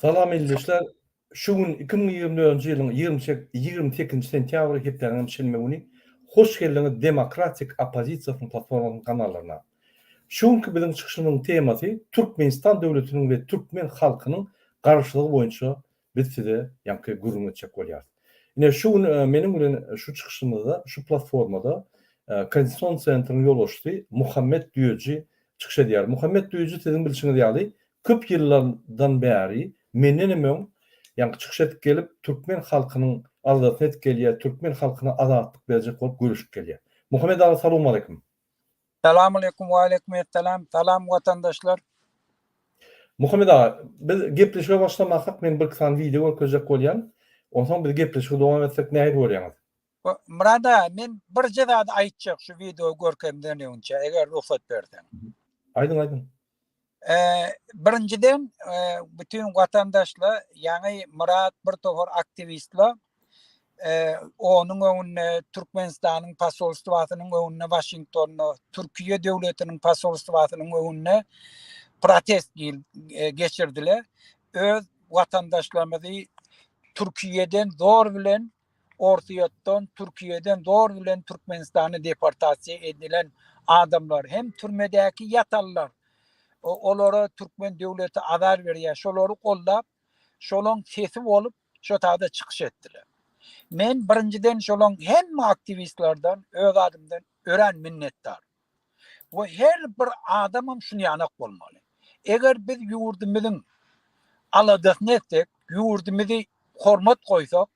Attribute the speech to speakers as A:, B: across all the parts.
A: Salam ildeşler. Şu gün iki müň ýigrimi dördünji ýylyň ýigrimi sekizinji sentýabry hepdäniňem şenbe güni hoş geldiňiz demokratik oppozisiýasynyň platformasynyň kanallaryna. Şu günki biziň çykyşymyzyň temasy Türkmenistan döwletiniň we türkmen halkynyň garaşlygy boýunça Biz size ýaňky gürrüň etjek bolýarys. Ine, şu gün meniň bilen şu çykyşymyzda, şu platformada Konstitusion Centryň ýolbaşçysy Muhammet Düýeji çykyş edýär. Muhammet Düýeji, siziň bilşiňiz ýaly, köp ýyllardan bäri, menden hem öň, ýaňky çykyş edip gelip, türkmen halkynyň aladasyny edip gelýär, türkmen halkyna azatlyk berjek bolup göreşip gelýär. Muhammet aga, salowmaleýkim! Salam
B: aleýkum Waleýkum essalam Salam watandaşlar.
A: Muhammet aga, biz gepleşige başlamasak, men birki sany wideo görkezjek bolýan. Onsoň biz gepleşigi dowam etsek nähili görýäňiz? Murad aga,
B: men birje zady aýtjak şu wideo görkezmden öňçe, eger rugsat berseň. Aýdyň, aýdyň. Birinjiden, bütin watandaşla ýaňy Myrat bir topar aktiwistla onuň öňünde Türkmenistanyň posolstwasynyň öňünde Waşingtonda, Türkiýe döwletiniň posolstwasynyň öňünde protest geçirdiler. Öz watandaşlarymyzy Türkiýeden zor bilen Orsýetden, Türkiýeden zor bilen Türkmenistana deportasiýa edilen adamlar hem türmedäki ýatanlar. Olara türkmen döwleti azar berýär. Şolary goldap, şolaň sesi bolup, şo taýda çykyş etdiler. Men birinjiden şolaň hemme aktiwistlerden öz adymdan örän minnetdar. we her bir adamam şuny ýanak bolmaly. Eger biz ýurdumyzyň aladasyny etsek, ýurdumyzy hormat goýsak,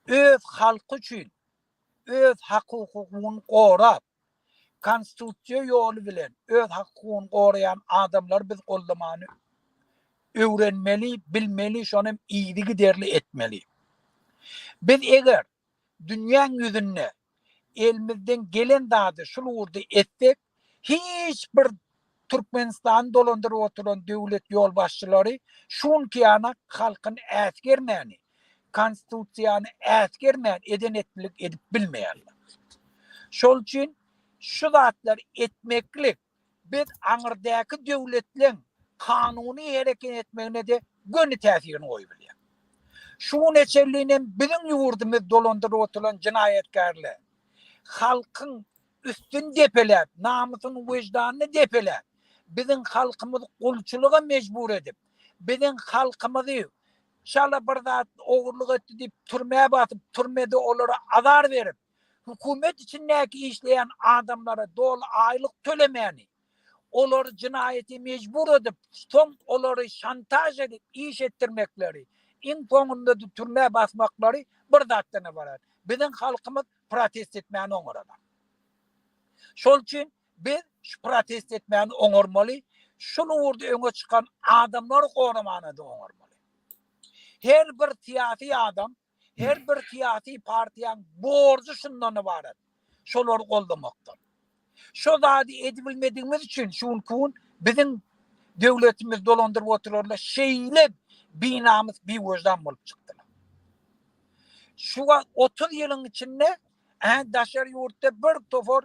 B: öz halky üçin öz hak-hukugyny gorap, konstitusiýa ýoly bilen öz hak-hukugyny goraýan adamlary biz goldamany öwrenmeli, bilmeli, şonam yzygiderli etmeli. Biz eger Dünýäň ýüzünde elimizden gelen zady şul ugurda etsek, hiç bir Türkmenistany dolandyryp oturan döwlet ýolbaşçylary şu günki ýana halkyny äsgermäni, Konstitusiýany äsgermän eden-etdilik edip bilmeýärler. Şol üçin şu zatlary etmeklik Biz aňyrdaky döwletleň kanuny hereket etmegine-de göni täsirini goýup bilýär. Şu güne çenli hem biziň ýurdumyz dolandyryp oturylan jenaýatkärler halkyň üstüni depeläp, namysyny, wejdanyny depeläp, biziň halkymyzy gulçulyga mejbur edip, biziň halkymyzy şala bir zat ogurlyk etdi diýip türmä basyp, türmede olara azar berip, Hökümet içindäki işleýän adamlara doly aýlyk tölemäni, olary jenaýata mejbur edip, soň olary şantaž edip iş etdirmekleri, iň soňunda-da türmä basmaklary bir zatdan ybarat. Biziň halkymyz protest etmäni oňarazok. Şol üçin biz şu protest etmäni oňarmaly, şul ugurda öňe çykan adamlary goramany-da oňarmaly. Her bir syýasy adam Her bir syýasy partiýaň borjy şundan ybarat, şolary goldamakdyr. Şo zady edibilmedigimiz üçin şu günki gün biziň döwletimizi dolandyryp oturarlar şeýle binamys, biweždan bolup çykdylar. Şu wagt otuz ýylyň içinde daşary ýurtda bir topar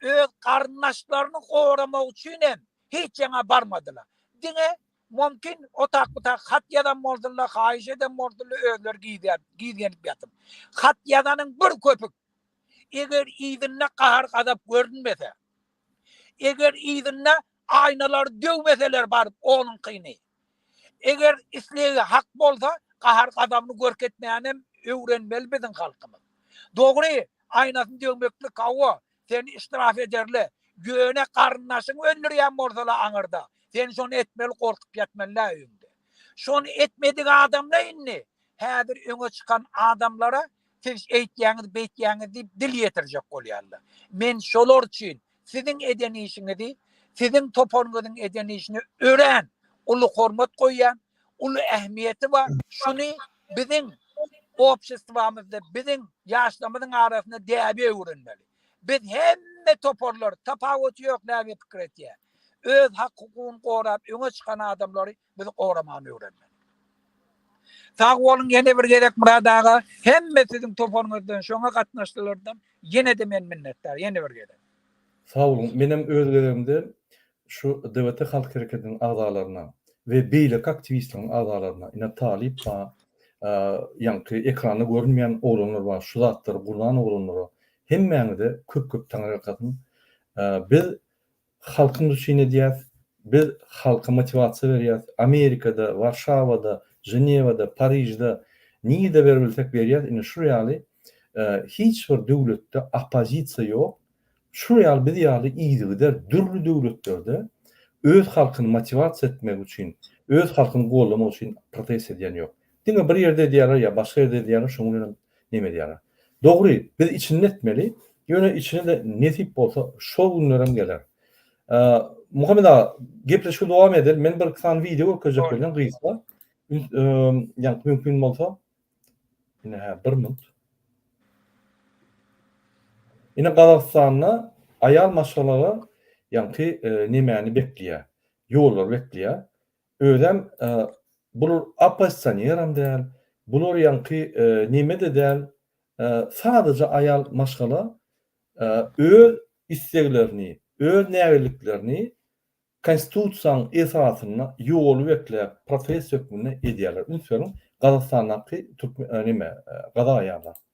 B: öz garyndaşlaryny goramak üçin hem hiç ýana barmadylar. Diňe, mümkin, otak-butak hat ýazan bolsunlar, haýyş eden bolsunlar, özleri gizlän, gizgenip ýatyp. Hat ýazanyň bir köpük. Eger yzynda gahar-gazap görünmese, eger yzynda aýnalary döwmeseler baryp onuňkyny. Eger islegi hak bolsa gahar gazabny görkezmänem öwrenmeli biziň halkymyz. Dogry aýnasyny döwmeklik hawa seni iştiraf ederle ýöne garyndaşyňy öldürýän bolsala aňyrda sen şony etmeli gorkup ýatmalydä öýüňde. Şony etmedik adamla indi häzir öňe çykan adamlara siz şeýtýäňiz beýtýäňiz diýip dil ýetirjek bolýarlar. Men şolar üçin Siziň eden işiňizi, siziň toparyňyzyň eden işine örän uly hormat goýýan, uly ähmiýeti bar. Şuny biziň obşestwamyzda, biziň ýaşlarymyzyň arasynda däbe öwrenmeli. Biz hemme toparlar, tapawuty ýok, näme pikir etýär. Öz hak-hukugyny gorap öňe çykan adamlary Bizi goramany öwrenmeli. Sag boluň ýene bir gezek Myrat aga, hemme siziň toparyňyzdan şoňa gatnaşdylardan ýene-de men minnetdar, ýene bir gezek. Sag boluň,
A: menem öz gezegimde şu DBT Halk Hereketiniň agzalaryna we beýleki aktiwistleriň agzalaryna, ine talyp bar, ýaňky ekranda görünmeýän oglanlar bar, şu zatlary gurnan oglanlara hemmäňize köp-köp taňyrýalkasyn. Biz Halkymyz üçin edýäs. Biz halka motiwasiýa berýäs. Amerikada, Warşawada, Ženewada, Parižde nirde beribilsek berýäs. Indi şu ýaly hiç bir döwletde oppozisiýa ýok. Şu ýaly biz ýaly yzygider dürli döwletlerde öz halkyny motiwasiýa etmek üçin, öz halkyny gollamak üçin protest edýän ýok. Diňe bir ýerde edýärler ýa başga ýerde edýärler şoň bilenem neme edýärler. Dogry biz içinde etmeli ýöne içine-de nesip bolsa şol günlerem geler. Muhammet aga gepleşigi dowam edeli men bir iki sany wideo görkezjek bolýan gysga ýa mümkin bolsa ine hä bir minut. Ine Gazagystanda aýal maşgalalar ýaňky nemäni bekleýär. Ýollary bekleýär. Özem bul oppozisioneram däl, bular ýaňky nemede däl, sadaja aýal maşgala öz isleglerini, öz nägilliklerini konstitusiýaň esasynda ýoly bekläp protest hökmünde edýärler. Üns beriň, Gazastandaky türkmen neme, gazak aýallar.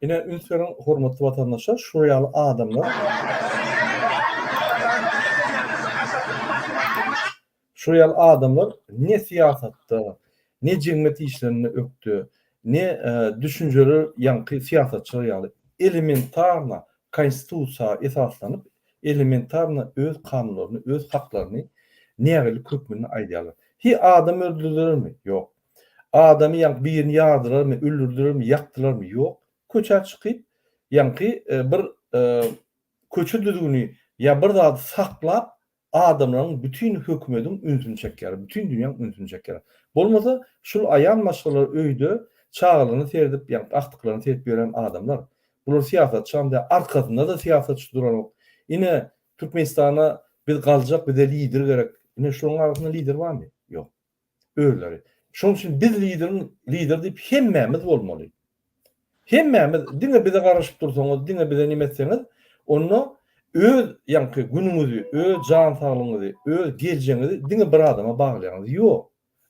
A: Ine üns beriň hormatly watandaşlar şu ýaly adamlar şu ýaly adamlar ne syýasatda ne jemgyýet işlerinde ökde ne düşünjeli ýaňky syýasatçylar ýaly elementarna konstitusiýa esaslanyp elementarna öz kanunlaryny öz haklaryny nägilelik hökmünde aýdýarlar. Hi adam öldürilermi? Ýok. Adamy ýaňky birini ýardylarmy, öldürdilermi, ýakdylarmy? Ýok. Köçä çykyp, ýaňky bir köçe düzgüni ýa bir zady saklap, adamlaryň bütin hökümediň ünsüni çekýärler, bütin dünýäň ünsüni çekýärler. Bolmasa, şul aýal maşgalar öýde çagalaryna seredip, ýaňky agtyklaryna seredip ýören adamlar. Bular syýasatçam däl, arkasynda-da syýasatçy duranok. Ine, Türkmenistana biz galjak, bize lider gerek. Ine, şularyň arasynda lider barmy? Ýok. özleri. Şonuň üçin biz lideriň lider diýip hemmämiz bolmaly. Hemmämiz diňe bize garaşyp dursaňyz, diňe bize näme etseňiz, onda öz ýaňky günüňizi, öz jan saglygyňyzy, öz geljegiňizi diňe bir adama baglaýaňyz. Ýok.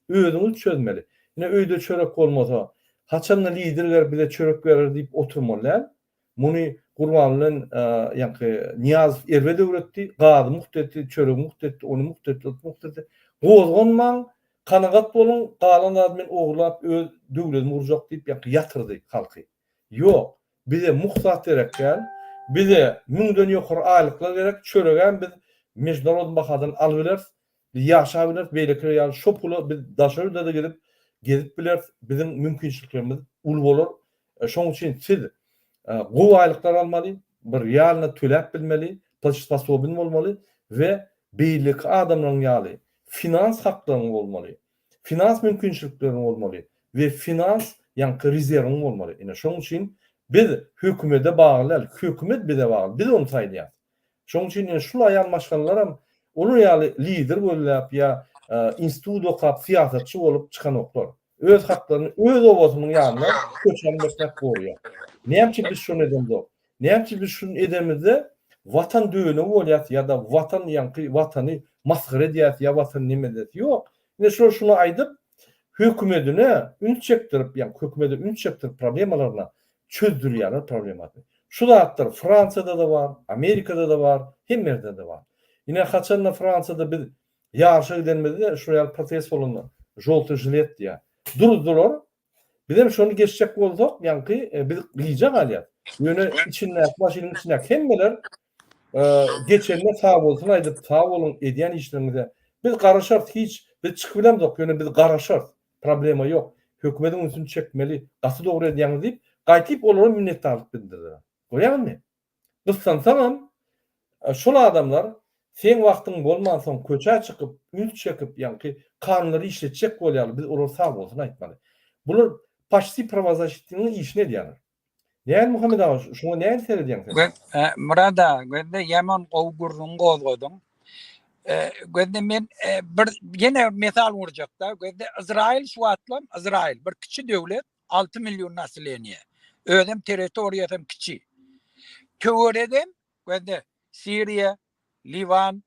A: Özüňiz çözmeli. Ine öýde çörek bolmasa, haçanda lider gelip bize çörek berer diýip oturmaly däl. Muny Gurban bilen ýaňky Nyýazow erbet öwretdi, gazy mugt etdi, çöregi mugt etdi, ony mugt etdi, ot mugt etdi. Gozganmaň, kanagat boluň, galan zady men ogurlap öz döwledimi gurjak diýip ýaňky ýatyrdy halky. Ýok, bize mugt zat gerek däl, bize müňden ýokary aýlyklar gerek, çöregem biz mejnarod bahadan alybileris, Biz ýaşap bileris beýlekiler ýaly şo pula biz daşary ýurda-da gidip gezip bileris biziň mümkinçiliklerimiz uly bolar şoň üçin siz gowy aýlyklar almaly bir realno töläp bilmeli plçesosobyn bolmaly we beýleki adamlaryň ýaly finans haklaryň bolmaly finans mümkinçilikleriň bolmaly we finans ýaňky rezerwiň bolmaly ine şoň üçin biz hökümede bagly däl hökümet bize bagly biz ony saýlaýarys Şoň üçin indi şul aýal maşgalalaram olar ýaly lider gözläp ýa institut okap syýasatçy bolup çykanoklar. Öz haklaryny öz obasynyň ýanyna köçäni beklap gorýar. Näme üçin biz şony edemzok? Näme üçin biz şuny edemizde watan dönügi bolýas ýa-da watan ýaňky watany masgara edýäs ýa watan neme edýäs? Ýok. Indi şular şuny aýdyp, Hökümedine üns çekdirip, ýagny hökümede üns çekdirip problemalaryna çözdürýärler problemasy. Şu zatlar Fransiýada-da bar, Amerikada-da bar, hemme ýerde-de bar. Ine haçanda Fransiýada biz ýaryşa gidenimizde şular ýaly protest bolanda žolty žilet diýýär. Duruzdylar. Bizem şony geçjek bolsak, ýaňky biz gyja galýas. Ýöne içindäki maşynyň içindäki hemmeler Geçenine sag bolsun aýdyp sag boluň edýän işleriňize biz garaşarys hiç biz çykyp bilemzok ýöne biz garaşarys problema ýok hökümediň ünsüni çekmeli gaty dogry edýäňiz diýip gaýtyp olara minnetdarlyk bildirdiler görýäňizmi gyssansaňam şol adamlar seň wagtyň bolmansoň köçä çykyp üns çekip ýaňky kanunlary işletjek bolýarlar biz olara sag bolsun aýtmaly bular paçti prawazaşitiniň işini edýärler. Näme Muhammet aga, şuňa nädip seredýäň sen? Göz, e, Murad aga, gözde
B: ýaman gowy gürrüň gozgadyň. E, gözde men e, bir ýene mesal urjakda, gözde Izrail şu wagtlam Izrail bir kiçi döwlet, 6 million nasileniýe. Özem territoriýasam kiçi. Töweregem gözde Siriýa, Liwan,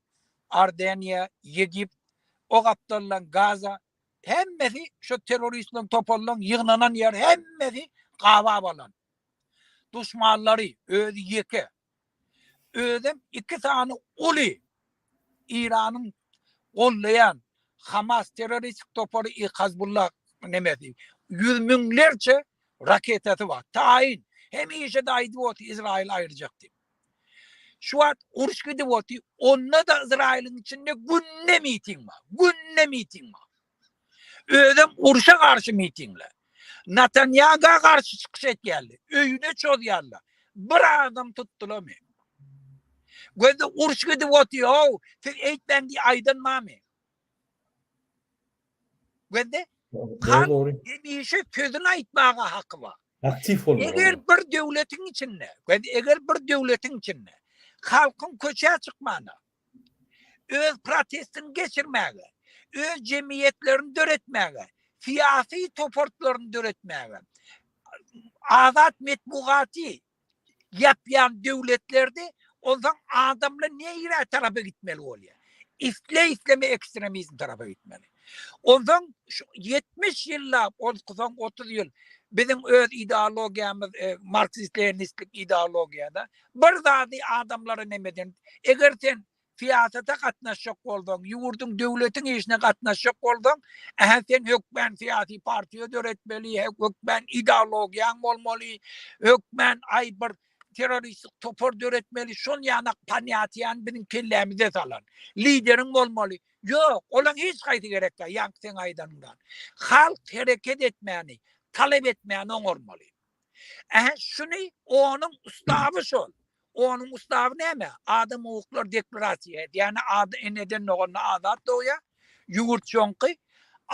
B: Ardeniýa, Ýegipt, o gapdaldan Gaza, Hemmesi şu terroristleň toparlaryň ýygnanan ýeri hemmesi gabap alan. Duşmanlary özi ýeke. Özem iki sany uly Iranyň gollaýan Hamas terroristik topary i Hazbullah nemesi. Ýüz müňlerçe raketasy bar. Taýyn. Hemişe-de aýdyp otyr Izraýyl aýyrjak diýip. Şu wagt uruş gidip otyr. Onda-da Ysraýylyň içinde günde miting bar. Günde miting bar. Özem uruşa garşy mitingler. Natanýaga garşy çykyş etýärler. Öýüne çozýarlar. Bir adam tutdylamy? Gözde uruş gidip otyr, ow, siz eýtmäň diýip aýdan barmy? Gözde, halk hemişe sözüni aýtmaga haky bar. Aktiw bolmaly. Eger
A: bir döwletiň
B: içinde, gözde, eger bir döwletiň içinde halkyň köçä çykmagyna, öz protestini geçirmäge, öz jemgyýetlerini döretmäge, syýasy topartlaryny döretmäge, azat metbugaty, ýapýan döwletlerdi, onsoň adamlar neýrä tarapa gitmeli bolýar? Isle-isleme ekstremizm tarapa gitmeli. Onsoň şu ýetmiş ýyllap, onsoň otuz ýyl biziň öz ideologiýamyz e, marksist-leninistlik ideologiýada bir zady adamlara nemeden, eger sen Syýasata gatnaşjak bolsaň, ýurduň, döwletiň işine gatnaşjak bolsaň, ähä sen hökmän syýasy partiýa döretmeli, hökmän ideologiýaň bolmaly, hökmän aý bir terroristik topar döretmeli, şol ýanak panýatiýany biziň kellämize salan lideriň bolmaly. Ýok, olaň hiç haýsy gerek däl, ýaňky seň aýdanyňdan. Halk hereket etmäni, talap etmäni oňarmaly. Ähä şuny onuň ustaby şol. Onuň ustaby näme? Adam owuklar deklarasiýa edýäni ady eneden doganda azat dogýa, ýüwürt joňky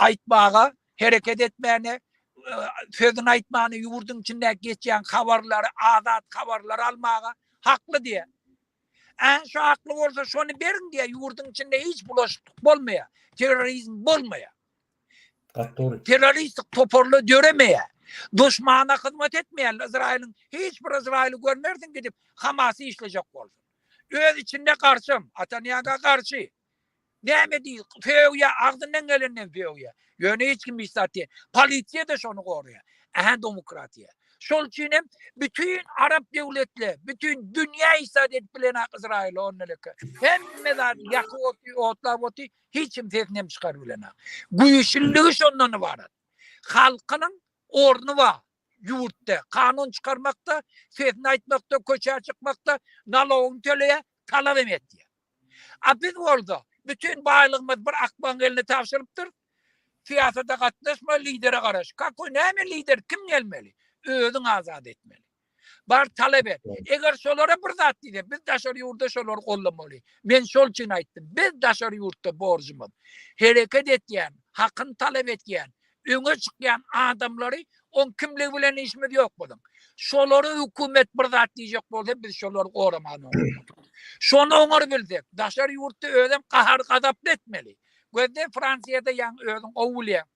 B: aýtmaga hereket etmäne, sözüni aýtmana ýüwürdiň içindäki geçýän habarlary azat habarlary almaga hakly diýä. Ä şu hakly bolsa şony beriň diýä ýüwürdiň içinde hiç bulaşyklyk bolmaýa, terrorizm bolmaýa. Terroristik toparla döremeýär. Duşmana hyzmat etmeýän Izrailiň hiç bir Izraili görmersiň gidip Hamasy işlejek bolsun. Öz içinde garşym, Atanýaga garşy. Näme diý, söýýä, agzyndan gelenden söýýä. Ýöne hiç kim hiç zat diýen. Polisiýa da şony goraýar. Ähä demokratiýa. Şol üçin hem bütün arap döwletleri, bütün dünýä isat edip bilen ak Izrail ondan öke. Hemme zat ýakyp otyr, otlap otyr, Hiç kim sesini hem çykaryp bilenok. Güýçlüligi şondan ybarat. Halkynyň orny bar ýurtda. Kanun çykarmakda, sesini aýtmakda, köçä çykmakda, nalogyny töleýär, talap hem etýär. A biz bolsa bütin baýlygymyzy bir akbagyň eline tabşyrypdyrys. Syýasata gatnaşma, lidere garaş. Kakoý näme lider, kim gelmeli? Özüň azat etmeli. Bar talap et. Eger şolara bir zat diýse, biz daşary ýurda şolary gollamaly. Men şol üçin aýtdym. Biz daşary ýurtda borjumyz. Hereket etýän, hakyny talap etýän, öňe çykýan adamlary oň kimligi bilen işimiz ýok biziň. Şolara hökümet bir zat diýjek bolsa, biz şolary goramaly oňa. Şony oňar bilsek, daşary ýurtda özem gahar-gazaply etmeli. Gözde Fransiýada ýaňy özüň gowy bilýäň.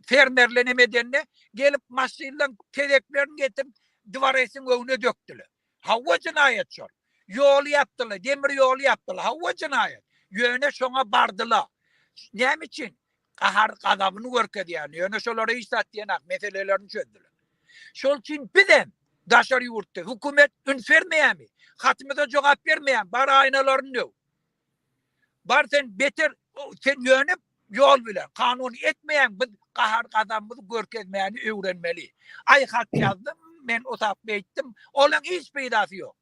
B: fermerle neme edende gelip maşyndan tezeklerini getirip dwaresin öňüne dökdüler. Hawa jinaýat şol. Ýol ýapdylar, demir ýol ýapdylar. Hawa jinaýat. Ýöne şoňa bardylar. Näme üçin? Gahar gazabyny görkezýär. Ýöne şolara hiç zat diýenak, meselelerini çözdüler. Şol üçin biz hem daşary ýurtda hökümet üns bermeýärmi? Hatymyza jogap bermeýär, bar aýnalaryny döw. Bar sen beter sen ýöne ýol bilen kanun etmeýäň biz gahar gazabymyzy görkezmäni öwrenmeli aý hat ýazdym men otap beýtdim olaň hiç peýdasy ýok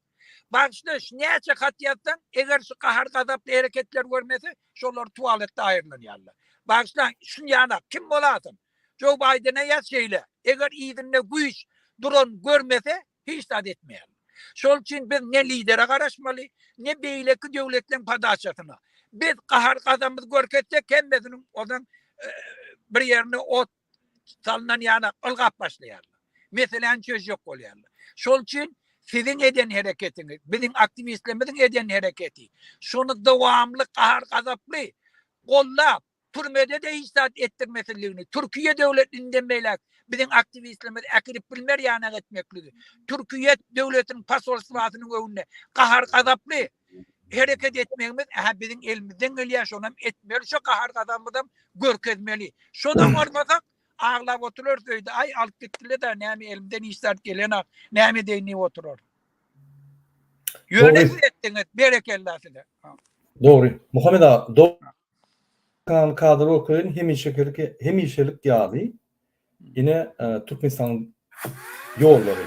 B: bagyşla şu näçe hat ýazsaň eger şu gahar gazaply hereketler görmese şolar tualetde aýyrlanýarlar bagyşlaň şunýanak kim bolasyň joe baýdene ýaz şeýle eger yzynda güýç duran görmese Hiç zat etmeýärler. Şol üçin biz ne lidere garaşmaly, ne beýleki döwletleriň podaçasyna. Biz gahar-gazamyzy görkezsek, hemmesiniň ozaň bir ýerine ot salnan ýaly ylgap başlaýarlar. Meseläni çözjek bolýarlar. Şol üçin siziň eden hereketiňiz, biziň aktiwistlerimiziň eden hereketi, şony dowamly gahar-gazaply gollap, Türmede-de hiç zat etdirmesizligini, Türkiýe döwlet inden beýläk biziň aktiwistlerimizi äkidip bilmer ýanak etmekligi, Türkiýe döwletiniň posolstwasynyň öňünde gahar-gazaply hereket etmegimiz, ä-hä biziň elimizden gelýär, şonam etmeli, şo gahar-gazabymyzam görkezmeli. Şonam bolmasak, aglap oturarys öýde, aý, alyp gitdiler-dä, näme elimden hiç zat gelenok, näme edeýin diýip oturarys. Ýöne siz etdiňiz, berekella size. Dogry,
A: Muhammet aga, dogry. Kan kadr okeýin hemişekilik hemişelik ýaly ine Türkmenistan ýollary.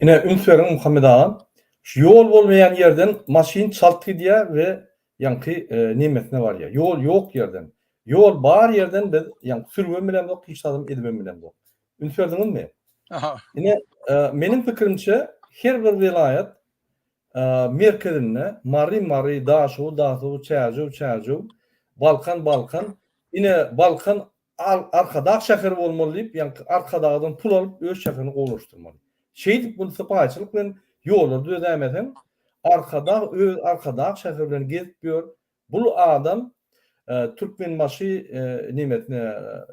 A: Ine üns beriň Muhammet agam şu ýol bolmaýan ýerden maşyn çalt gidýär we ýaňky nemesine barýar. Ýol ýok ýerden. Ýol bar ýerden biz ýaňky sürübem bilemzok hiç zadam edibem bilemzok. Üns berdiňizmi? Ine meniň pikirimçe her bir welaýat merkezinde Mary Mary, Daşow Dasow, Çärjew Çärjew, Balkan Balkan, ine Balkan Al, Arkadag şäheri bolmaly diýip, ýaňky Arkadagdan pul alyp, öz şäherini gowulaşdyrmaly. Şeýdip, muny sypaýyçylyk bilen ýollary düzedäýmeseň, Arkadag öz Arkadag şäheri bilen gezip ýör. Bul adam Türkmenbaşy nemesine,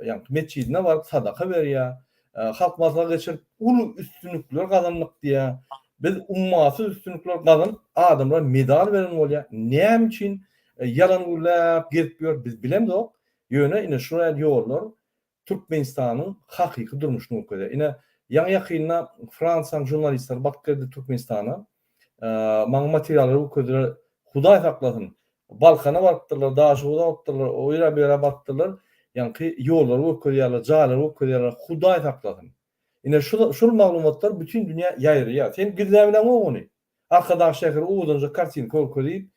A: ýaňky metjidine baryp sadaka berýär. Halk maslahat geçirip, uly üstünlikler gazandyk diýýär. Biz ummasyz üstünlikler gazanyp, adamlara medal beren bolýar. Näme üçin ýalan gürläp gezip ýör, biz bilemzok. Ýöne ine şu ral ýollar Türkmenistanyň hakyky durmuşyny görkezýär. Ine ýaňy-ýakynda Fransiýanyň žurnalistleri bakyp geldi Türkmenistana. Maňa materiallary görkezdiler. Hudaý saklasyn, Balkana barypdyrlar, Daşoguza barypdyrlar, o ýere, bu ýere barypdyrlar. Ýaňky ýollary görkezýärler, jaýlary görkezýärler. Hudaý saklasyn. Ine şul maglumatlar bütin dünýä ýaýraýar. Sen gizläbileňok ony. Arkadag şäheri owadanjak kartinka görkezip,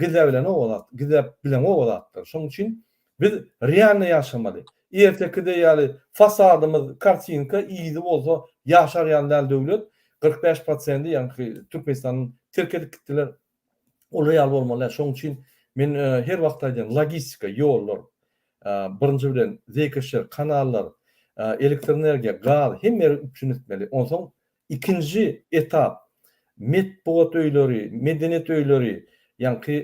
A: gizäbilenok o zat, gizäp bileňok o zatlary. Şonuň üçin biz realnyý ýaşamaly. Erteki deý ýaly fasadymyz kartinka, yzy bolsa ýaşar ýaly däl döwlet, kyrk bäş prosendi ýaňky Türkmenistany terk edip gitdiler. Olar ýaly bolmaly däl. Şonuň üçin men her wagt aýdýan, logistika, ýollar, birinji bilen, zeýkeşler, kanallar, elektroenergiýa, gaz, hemme ýeri üpjün etmeli. Onsoň Ikinji etap, metbugat öýleri, medeniýet öýleri, ýaňky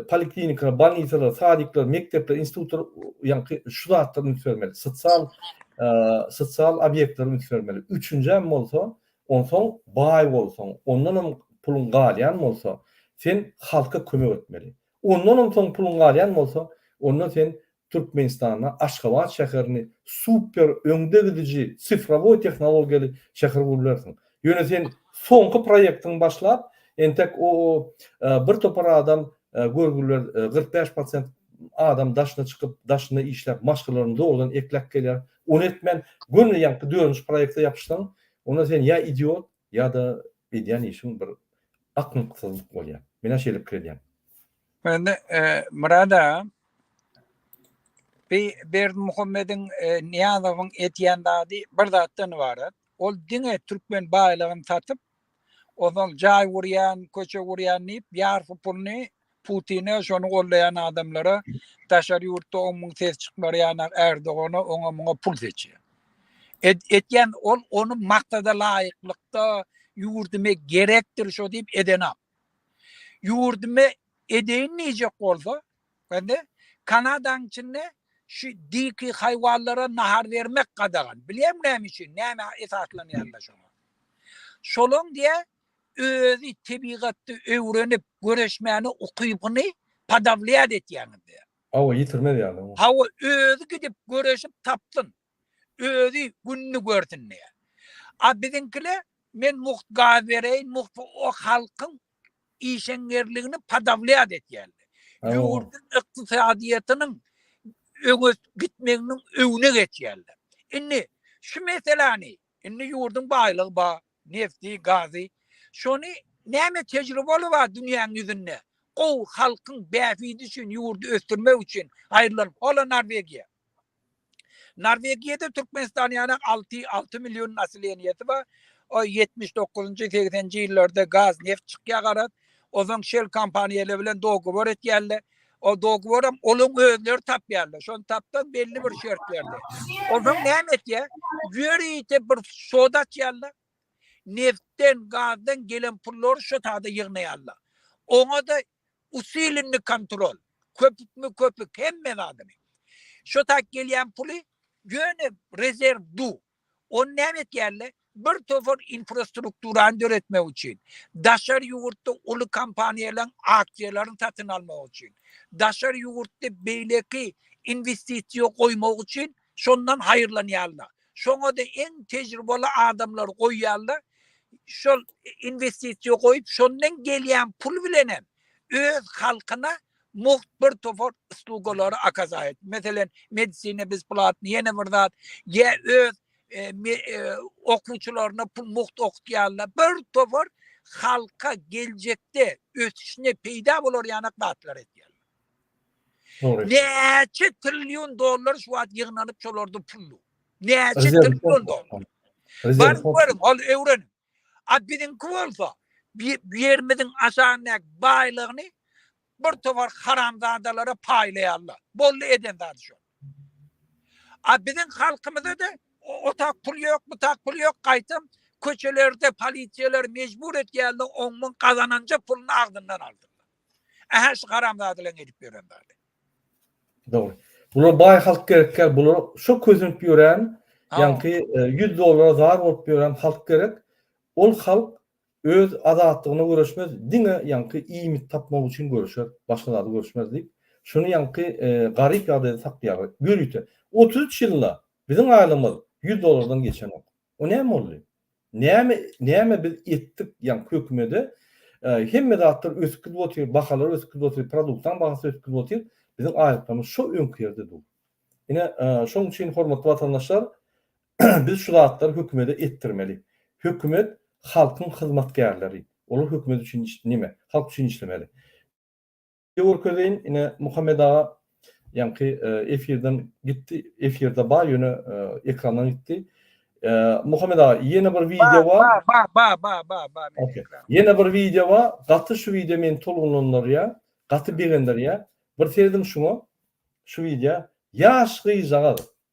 A: poliklinikalar, bolnisalar, sadikler, mekdepler, institutlar, ýaňky şu zatlary üns bermeli, sosial sosial obýektleri üns bermeli. Üçünjäm bolsa, onsoň baý bolsaň, ondan hem puluň galýan bolsa, sen halka kömek etmeli. Ondan hem soň puluň galýan bolsa, onda sen Türkmenistanda Aşgabat şäherini super öňde gidiji sifrowoý tehnologiýaly şäher bolup bilersiň. Ýöne sen soňky proýektiňi başlap, entek o bir topar adam görgüliler kyrk bäş prosent adam daşyna çykyp, daşynda işläp, maşgalalaryny dogrudan ekläp gelýär. Ony etmän, göni ýaňky dördünji proýekte ýapyşsaň, onda sen ýa idiot, Ýa-da edýän işiň bir akmaksyzlyk bolýar. Menä şeýle pikir edýän.
B: Indi
A: Myrat aga
B: bi Berdimuhamediň Nyýazowyň edýän zady bir zatdan ybarat. Ol diňe türkmen baýlygyny satyp, ozal jaý gurýan, köçe gurýan diýip ýarpy puluny Putine, şony gollaýan adamlara daşary ýurtda on müň ses çykmar ýanak Erdogana oňa muňa pul seçýär. Et, etýän ol ony maksada laýyklykda ýurdume gerekdir şo diýip edenam. Ýurdume edeýin diýjek bolsa, indi Kanadaň içinde şu diki haýwanlara nahar bermek gadagan. Bilýän näme üçin, näme esaslanýanda şoňa. Şolaň diýä özi tebigatda öwrenip göreşmäne ukybyny podawlýat etýäňiz diýýär. Hawa, ýitirmez ýaly
A: oňa. Hawa, özi
B: gidip göreşip tapsyn. Özi gününi görsün diýýär. A biziňkiler men mugt gaz bereýin, mugt o halkyň işeňňerligini podawlýat etýärler. Ýurduň ykdysadyýetiniň öňe gitmeginiň öwüne geçýärler. Indi şu meseläni Indi ýurduň baýlygy bar, nebti, gazy. Şony näme tejrübeli bar dünýäň ýüzünde? Gowy halkyň bähbidi üçin ýurdy ösdürmek üçin aýrylan hola Norwegiýa. Norwegiýada Türkmenistan ýaly alty alty million naseleniýesi bar. O ýetmiş dokuzynjy segsenji ýyllarda gaz neft çykýar garaz. Ozan şel kompaniýalar bilen dogowor etýärler. O dogoram onuň özleri tapýarlar. Şony tapdan belli bir şert berdi. Ondan näme etýär? Ýörite bir soda açýarlar. Neftden, gazdan gelen pullary şu sada ýygnaýarlar. Oňa da usilinni kontrol. Köpükmi köpük hemme zadyny. Şu tak gelýän puly ýöne rezerw du. Ony näme etýärler? Bir topar infrastrukturany döretmek üçin, daşary ýurtda uly kompaniýalaryň aksiýalaryny satyn almak üçin, daşary ýurtda beýleki inwestisiýa goýmak üçin şondan haýyrlanýarlar. Şoňa-da iň tejribeli adamlary goýýarlar. Şol inwestisiýa goýup, şondan gelýän pul bilenem öz halkyna mugt bir topar uslugalary akaza et. Meselem, medisina bezplatny, ýene bir zat, ýa öz e, e, okuwçylaryna pul mugt okutýarlar. Bir topar halka geljekde ösüşine peýda bolar ýanak zatlar edýär. Näçe trillion dollar şu wagt ýygnanyp şolarda pullu. Näçe trillion dollar. Bar görüň, ol öwren. A biziňki bolsa, bu ýerimiziň aşagyndaky baýlygyny bir towar haramzadalara paýlaýarlar. Boldy eden zady şol. A biziň halkymyza-da o tak pul ýok, bu tak pul ýok, gaýtam köçelerde polisiýalar mejbur etýärler, oň-muň gazananja puluny agzyndan aldyrlar. Ä-hä şu haramzadalaryň edip ýören zady.
A: Dogry. Bular baý halk gerekýär. Bular şo kösenip ýören, ýaňky 100 dollara zar bolup ýören halk gerek. Ol halk öz azatlygyna göreşmez, diňe ýaňky iýmit tapmak üçin göreşer, başga zada göreşmez diýip, şuny ýaňky garyp ýagdaýda saklaýarlar. Ýörite, 33 ýylda biziň aýlygymyz 100 dollardan geçenok. O näme boldy? Näme näme biz etdik? Ýa hökümede hemme zatlar ösüp gidip otyr, bahalar ösüp gidip otyr, produktyň bahasy ösüp gidip otyr. Biziň aýlyklaymyz şo öňki ýerde dur. Ine, şonuň üçin hormatly watandaşlar, biz şu zatlary hökümede etdirmeli. Hökümet halkyň hyzmatkärleri. Olar hökümet üçin nime? Halk üçin işlemeli. Ýa görkezeýin ine Muhammet aga ýaňky efirden gitdi. Efirde bar ýöne ekrandan gitdi. Muhammet aga ýene bir wideo bar. Bar bar bar bar bar bar.
B: Okey. Ýene bir
A: wideo bar. Gaty şu wideo meni tolgunlandyrýar. Gaty begendirýär. Bir serediň şuňa. Şu wideo. Ýaş gyzjagaz.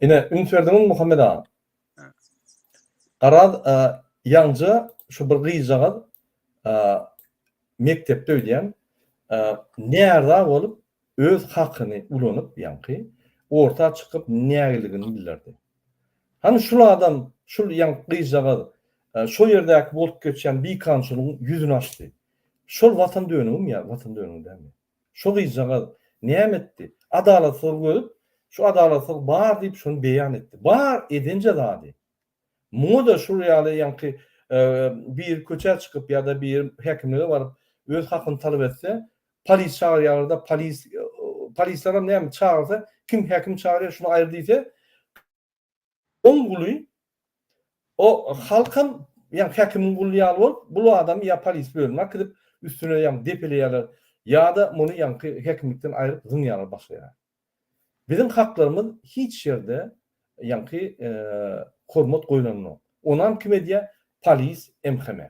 C: Ine, üns berdiňizmi,
A: Muhammet aga? Garaz, ýaňja şu bir gyzjagaz mekdepde öýdýän, nära bolup, Öz hakyny ulanyp ýaňky orta çykyp nägiligini bildirdi. Hany şul adam, şul ýaňky gyzjagaz, şo ýerdäki bolup geçýän bikançylygyň ýüzüni açdy. Şol watan dönügim ýa watan dönügi dälmi? Şo gyzjagaz näme etdi? Adalatsyzlyk ödüp, şu adalatsyzlyk bar diýip şony beýan etdi. Bar edenje zady. Muňa-da şul ýaly ýaňky biri köçä çykyp ýa-da biri häkimlige baryp öz hakyny talap etse, polis çagyrýarlar-da, polis, polislerem näme çagyrsa, kim häkim çagyrýar şuny aýyr diýse, oň guly, o halkam ýaňky häkimiň guly ýaly bolup, bul adamy ýa polis bölümine akidip, üstüne ýaňky depeleýärler ýa-da muny ýaňky häkimlikden aýryp zyňýarlar başga ýere. Biziň haklarymyz hiç ýerde ýaňky hormat goýlanynok. Onam kim edýä polis MHM.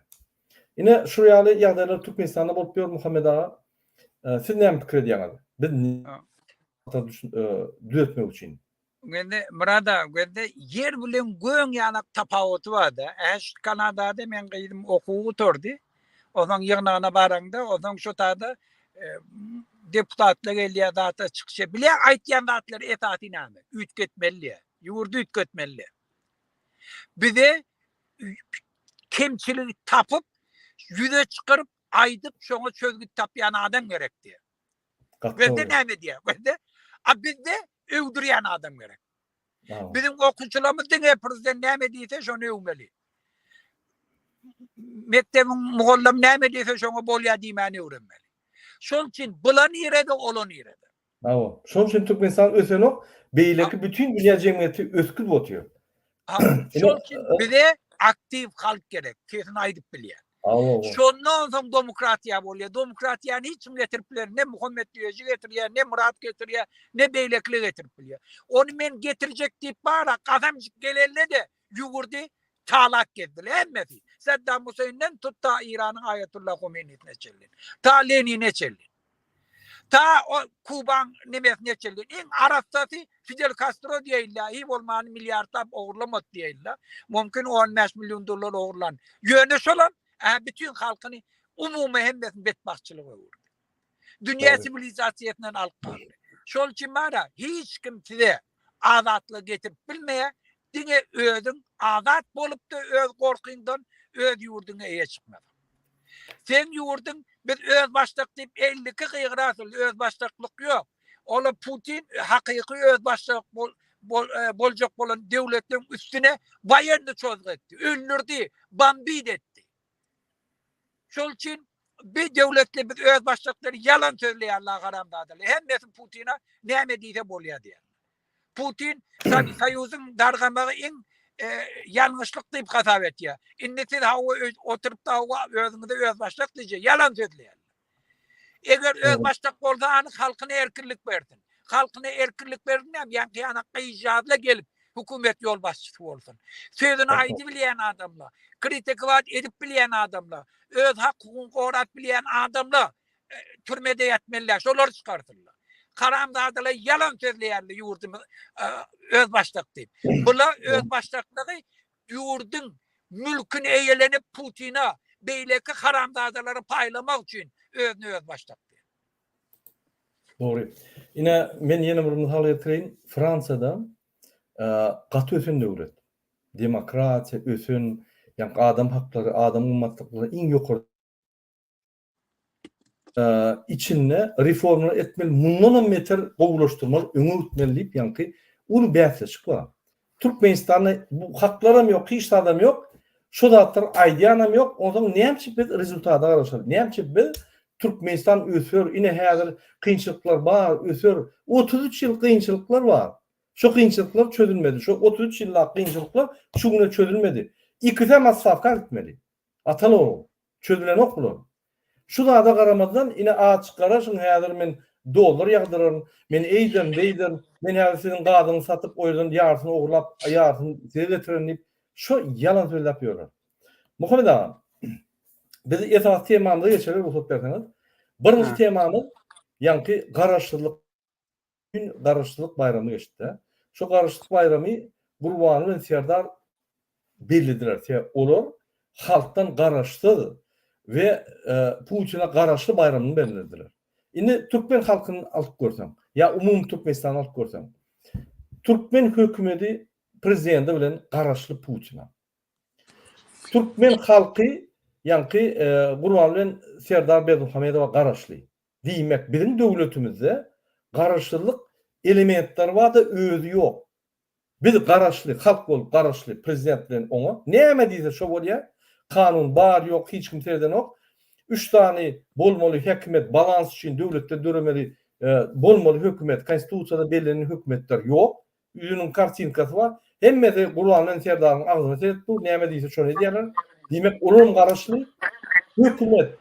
A: Ine şur ýaly ýagdaýlar Türkmenistanda bolup ýör Muhammet aga. Siz näme pikir edýäňiz? Biz düzetmek üçin. Gözde Myrat
B: aga gözde ýer bilen göň ýalak tapawuty barda. Äş Kanadada meň gyzym okuw gutardy. Ozaň ýygnagyna baraňda, ozaň şo taýda deputatlar gelýär zatlar çykyşa bile aýtýan zatlary esasy näme? Üýtgetmeli diýýär. Ýurdy üýtgetmeli diýýär. Bize kemçiligi tapyp, ýüze çykaryp, aýdyp, şoňa çözgüt tapýan adam gerek diýýär. Gaty dogry. Gözde näme diýýär? Gözde, a bizde öwdürýän adam gerek. Biziň okuwçylarymyz diňe prezident näme diýse şony öwmeli. Mekdebiň mugallamy näme diýse şoňa bolýar diýmäni öwrenmeli. Şol üçin bula nirede, ola nirede. Hawa, şoň üçin
A: Türkmenistan ösenok, beýleki bütin dünýä jemgyýeti ösgüp otyr. Şol
B: üçin bize aktiw halk gerek, sesini aýdyp bilýän. Şondan soň demokratiýa bolýar. Demokratiýany hiç kim getirip biler. Ne Muhammet Düýeji getirýär, ne Murat getirýär, ne beýlekiler getirip bilýär. Ony men getirjek diýip bara gasamjyk gelende-de ýüwürdi, çalak gezdiler hemmesi. Saddam Huseýnden tut ta Eýranyň Aýatullah Homeýnisine çenli. Ta Lenine çenli. Ta ol Kubaň nemes neçeldi. Iň arassasy Fidel Kastro diýeýinler. Hiý bolmany milliardlap ogurlamady diýeýinler. Mumkin on bäş million dollar ogurlan. Ýöne şolam ä bütin halkyny umumy hemmesini betbagtçylyga öwürdi. Dünýä siwilizasiýasyndan alyp galdy. Şol üçin bara hiç kim size azatlygy getirip bilmeýär. Diňe özüň azat bolupda öz gorkyňdan öz ýurduňa eýe çykmasaň. Seň ýurduň biz özbaşdak diýip elli iki gygyr asyldy özbaşdaklyk ýok. Ola Putin hakyky özbaşdak boljak bolan döwletleriň üstüne waýenny çozgy etdi. Öldürdi, bambit etdi. Şol üçin bir döwletli biz özbaşdakdyr ýalan sözleýärler haramzadalar. Hemmesi Putina näme diýse bolýar diýýär. Putin Soýuzyň dargamagy iň ýalňyşlyk diýip hasap etýär. Indi siz hawa oturypda hawa özüňize özbaşdak diýje. Ýalan sözleýärler. Eger özbaşdak bolsa anyk halkyna erkinlik bersin. Halkyna erkinlik bersin näme ýaňky ýanak gyzjagazla gelip hökümet ýolbaşçysy bolsun. Sözüni aýdy bilýän adamla, kritikować edip bilýän adamla, öz hak hukugyny gorap bilýän adamla Türmede ýatmalylar, şolar çykardylar. Haramzadalar ýalan sözleýärler ýurdumy öz başdak diýip. Bula öz başdaklygy ýurduň mülküni eýelenip Putina beýleki haramzadalary paýlamak üçin özüni öz başdak diýip.
A: Dogry. Ine men ýene bir mysal getireýin. Fransiýada gaty ösen döwlet. Demokratiýa, ösen, ýa adam haklary, adam gymmatlyklary iň ýokary içinde reformlar etmeli, mundanam beter gowulaşdyrmaly, öňe gitmeli diýip ýaňky uly bäsleşik bar. Türkmenistanda bu haklaram ýok, hiç zadam ýok. Şu zatlar aýdýanam ýok. Ondan näme biz rezultata garaşaly? Näme biz Türkmenistan öser, ine häzir kynçylyklar bar, öser. 33 ýyl kynçylyklar bar. Şu kynçylyklar çözülmedi. Şu 33 ýyllap kynçylyklar şu güne çözülmedi. Ikisem asfalta gitmeli. Atal oğul. Çözülenok bular. Şu zada garamazdan ine açyk garaşyň häzir men dollar ýagdyraryn, men eýderin, beýderin, men häzir siziň gazyňyzy satyp o ýerden ýarysyny ogurlap ýarysyny size getirerin diýip şo ýalan sözläp ýörler. Muhammet aga biz esasy temamyza geçeli rugsat berseňiz. Birinji temamyz ýaňky garaşsyzlyk. gün Garaşsyzlyk baýramy geçdi-de. Şu Garaşsyzlyk baýramy Gurbanguly bilen Serdar bellediler. Sebäp olar halkdan garaşsyz we Putine garaşly baýramyny bellediler. Indi türkmen halkyny alyp görseň, ýa umumy Türkmenistany alyp görseň, türkmen hökümeti prezidenti bilen garaşly Putine. Türkmen halky ýaňky Gurbanguly bilen Serdar Berdimuhamedowa garaşly. Diýmek biziň döwletimizde garaşsyzlyk elementleri barda özi ýok. Biz garaşly halk bolup garaşly prezident bilen oňa näme diýse şo bolýa. Kanun bar ýok hiç kim seredenok. Üç sany bolmaly häkimiýet balans üçin döwletde döremeli bolmaly hökümet konstitusiýada bellenen hökümetler ýok. Üýüniň kartinkasy bar. Hemmesi Gurbangelin serdaryň agzyny seredip dur, näme diýse şony edýärler. Diýmek, olam garaşly. Hökümet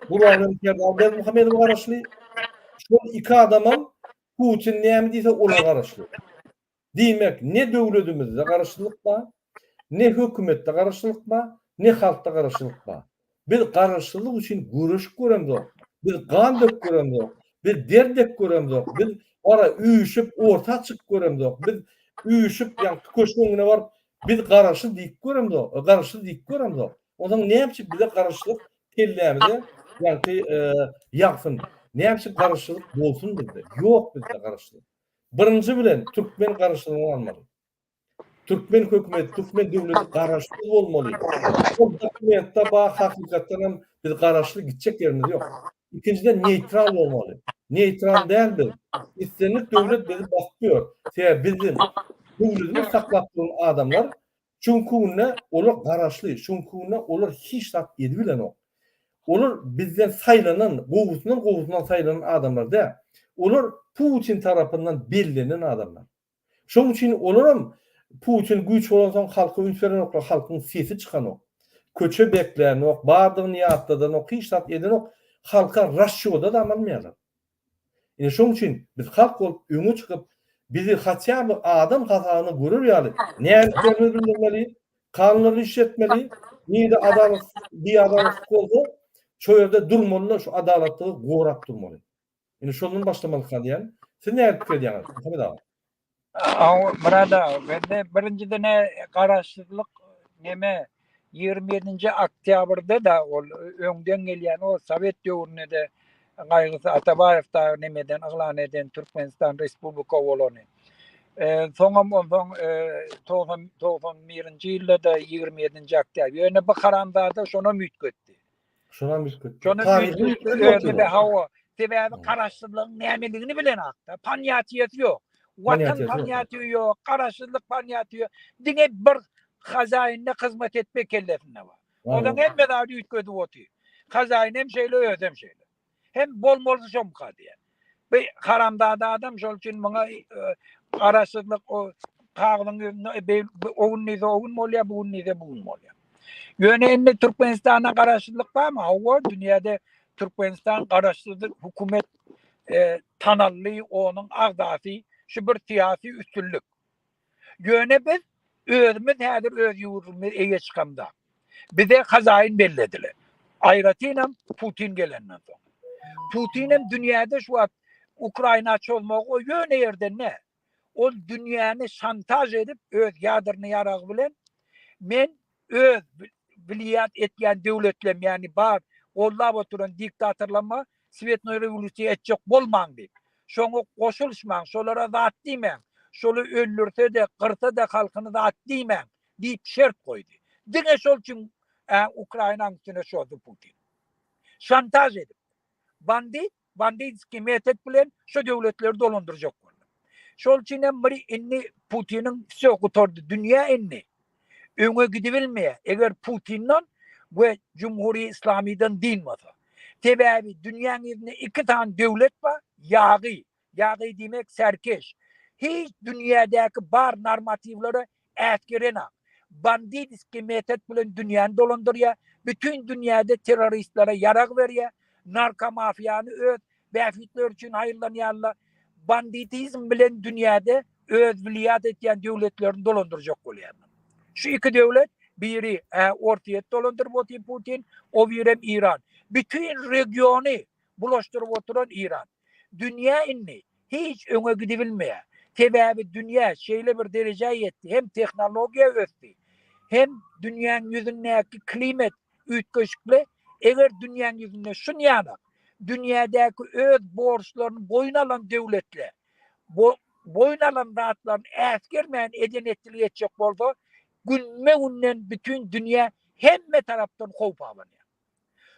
A: Gurbangelin serdary Berdimuhamedowa garaşly. Şol iki adamam Putin näme diýse olar garaşly. Diýmek, ne döwletimizde garaşlylyk bar, ne hökümetde garaşlylyk bar, ne halkda garaşlylyk bar. Biz garaşsyzlyk üçin göreşip göremzok. Biz gan döküp göremzok. Biz der dek göremzok. Biz gara üýşüp orta çykyp göremzok. Biz üýşüp ýa köşgüň öňüne baryp biz garaşsyz diýip göremzok. Garaşsyz diýip göremzok. Onsoň näme üçin bize garaşsyzlyk kellämize ýagty ýagsyn. Näme üçin garaşsyzlyk bolsun bizde? Ýok bizde garaşsyzlyk. Birinji bilen türkmen garaşsyzlygyny almaly. Türkmen hökümeti, türkmen döwleti garaşsyz bolmaly. Şol dokumentde bar, hakykatdan hem biz garaşsyz gitjek ýerimiz ýok. Ikinjiden neýtral bolmaly. Neýtral däl biz. Islendik döwlet bizi basyp ýör. Sebäbi biziň döwletimiz saklap duran adamlar şuňky günde olar garaşly, şuňky günde olar hiç zat edip bilenok. Olar bizden saýlanan, gowusyndan gowusyndan saýlanan adamlar däl. Olar Putin tarapyndan bellenen adamlar. Şoň üçin olaram Putin güýç bolansoň halka üns berenoklar, halkyň sesi çykanok. Köçe beklänok, bardygyny ýatladanok, hiç zat edenok. Halka rasýoda dam almaýarlar. Ine şoň üçin biz halk bolup öňe çykyp, bizi hatýa bir adam hasabyna görer ýaly nädiklerimizi bildirmeli, kanunlary işletmeli, nirede adalat, biadalatlyk bolsa şo ýerde durmaly-da şu adalatlygy gorap durmaly. Indi şondan başlamalyka diýýän. Siz nähili pikir edýäňiz, Muhammet aga?
B: Murad aga, bende birinjiden-ä garaşsyzlyk neme, ýigrimi ýedinji oktýabrda-da ol öňden gelýän, o sowet döwründe-de gaýgysy Atabaýew dagy nemeden yglan eden Türkmenistan respublika bolany. Soňam onsoň togsan birinji ýylda-da ýigrimi ýedinji oktýabr. Ýöne bu haramzada şonam üýtgetdi. Şonam
A: üýtgetdi. Taryhy üýtgetdi.
B: Hawa. Sebäbi garaşsyzlygyň nämedigini bilenok-da. Ponýatiýesi ýok. Watan ponýatiýi ýok, garaşsyzlyk ponýatiýi ýok. Diňe bir hazaýyna hyzmat etmek kellesinde bar. Onuň hemme zady üýtgedip otyr. Hazaýyn hem şeýle, özi hem şeýle. Hem bolmaly şomka diye. Bir haramzada adam şol üçin muňa e, garaşsyzlyk o kagyzyň ýüzünde e, o gün diýse o gün bolýar, bu gün diýse bu gün bolýar. Ýöne indi Türkmenistana garaşsyzlyk barmy? Hawa, dünýäde Türkmenistan garaşsyz hökümet e, tanally, onuň agzasy şu bir syýasy üstünlik. Ýöne biz özümiz häzir öz ýurdumyz eýe çykamda, bize hazaýyn bellediler. Aýratynam Putin gelenden soň. Putinem dünýäde şu wagt Ukraina çozmagy o ýöne ýerden ne. Ol dünýäni şantaž edip öz ýadrny ýaragy bilen men Öz bilýat etýän döwletlem ýagny bar gollap oturan diktatorlamma swetnoý rewolýusiýa etjek bolmaň diýip. Şoňa goşulyşmaň, şolara zat diýmäň, şoly öldürse-de, gyrsa-da halkyny zat diýmäň diýip şert goýdy. Diňe şol üçin Ukrainaň üstüne çozdy Putin. Şantaž edip. Bandit Banditskiý metod bilen şo döwletleri dolandyrjak boldy. Şol üçin hem bir indi Putiniň wsýo gutardy dünýä indi öňe gidibilmeýär eger Putinden we Jumhuriýe Islamydan dynmasa. Sebäbi dünýäň ýüzünde iki sany döwlet bar ýagy, ýagy diýmek serkeş, hiç dünýädäki bar normatiwlere äsgerenok. Banditiskiý metod bilen dünýäni dolandyrýar, bütin dünýäde terroristlere ýarag berýär, narkomafiýany öz bähbitleri üçin haýyrlanýarlar. Banditizm bilen dünýäde öz wiliýat etýän döwletlerini dolandyrjak bolýarlar. Şu iki döwlet, biri Orsýet dolandyryp otyr Putin, o birem Iran. Bütin regiony bulaşdyryp oturan Iran. Dünýä indi hiç öňe gidibilmeýär. Sebäbi dünýä şeýle bir derejä ýetdi, hem tehnologiýa ösdi, hem dünýäň ýüzündäki klimat üýtgeşikli. Eger dünýäň ýüzünde şunýanam dünýädäki öz borçlaryny boýun alan döwletler bu boýun alan zatlaryny äsgermän eden-etdiligi etjek bolsa, günbe-günden bütin dünýä hemme tarapdan howp abanýar.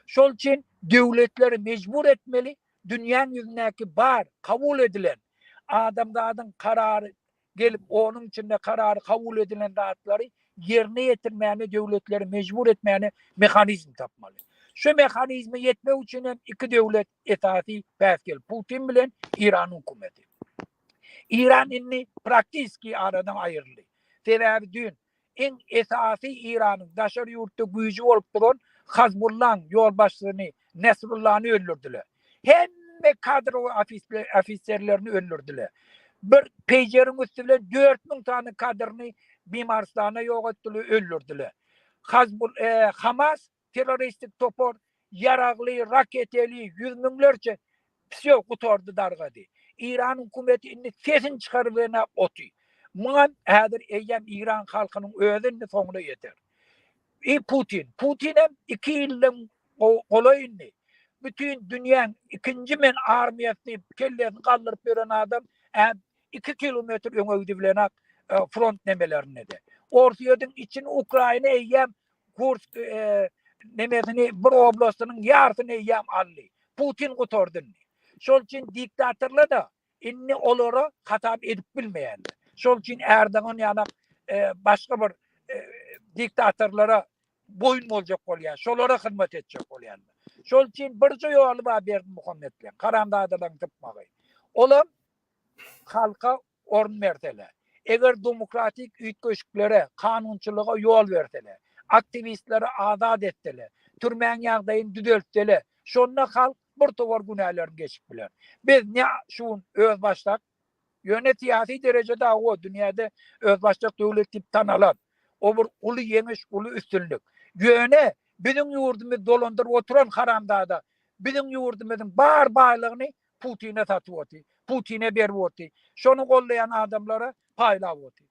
B: Şol üçin döwletleri mejbur etmeli, dünýäň ýüzündäki bar, kabul edilen, adamzadyň karary gelip, onuň içinde karary kabul edilen zatlary ýerine ýetirmäne döwletleri mejbur etmäne mehanizm tapmaly. Şu mehanizme ýetmek üçin hem iki döwlet esasy päsgel, Putin bilen Eýranyň hökümeti. Eýran indi praktiski aradan aýryldy. Sebäbi düýn Iň esasy Iranyň daşary ýurtda güýji bolup duran Hazbullaň ýolbaşçysyny Nesrullany öldürdiler. Hemme kadrowy ofiserlerini öldürdiler. Bir peýjeriň üsti bilen dört müň sany kadryny Bimaristana ýogatdylar, öldürdiler. Hazbul Hamas Terroristik topar ýaragly, raketeli, ýüz müňlerçe Wsýo, gutardy, dargady. Eýran hökümeti indi sesini çykaryp ýene oty. Muňam häzir eýýäm Eýran halkynyň özi indi soňuna ýeter. I Putin. Putinem iki ýyldan golaý indi bütin dünýäň ikinji men armiýasy diýip kellesini galdyryp ýören adam ä iki kilometr öňe gidibilenok front nemelerinde-de. Orsýetiň içini Ukraina eýýäm Kursk nemesini bir oblastynyň ýarysyny eýýäm aldy. Putin gutardy indi. Şol üçin diktatorlar-da indi olara hasap edip bilmeýärler. Şol üçin Erdogan ýaly başga bir diktatorlara boýun boljak bolýar. Şolara hyzmat etjek bolýarlar. Şol üçin birje ýoly bar Berdimuhametleriň, haramzadalaryň sypmagy. Olam halka orun bersele, eger domokratik üýtgeşiklere, kanunçylyga ýol bersele, aktiwistleri azat etsele, türmäň ýagdaýyny düzeltsele, şonda halk bir towar günälerini geçip biler. Biz ne şu gün özbaşdak, ýöne syýasy derejede hawa, dünýäde özbaşdak döwlet diýip tanalan, o bir uly ýeňiş, uly üstünlik. Ýöne biziň ýurdumyzy dolandyryp oturan haramzada biziň ýurdumyzyň bar baýlygyny Putine satyp oty, Putine berip oty, şony goldaýan adamlara paýlap oty.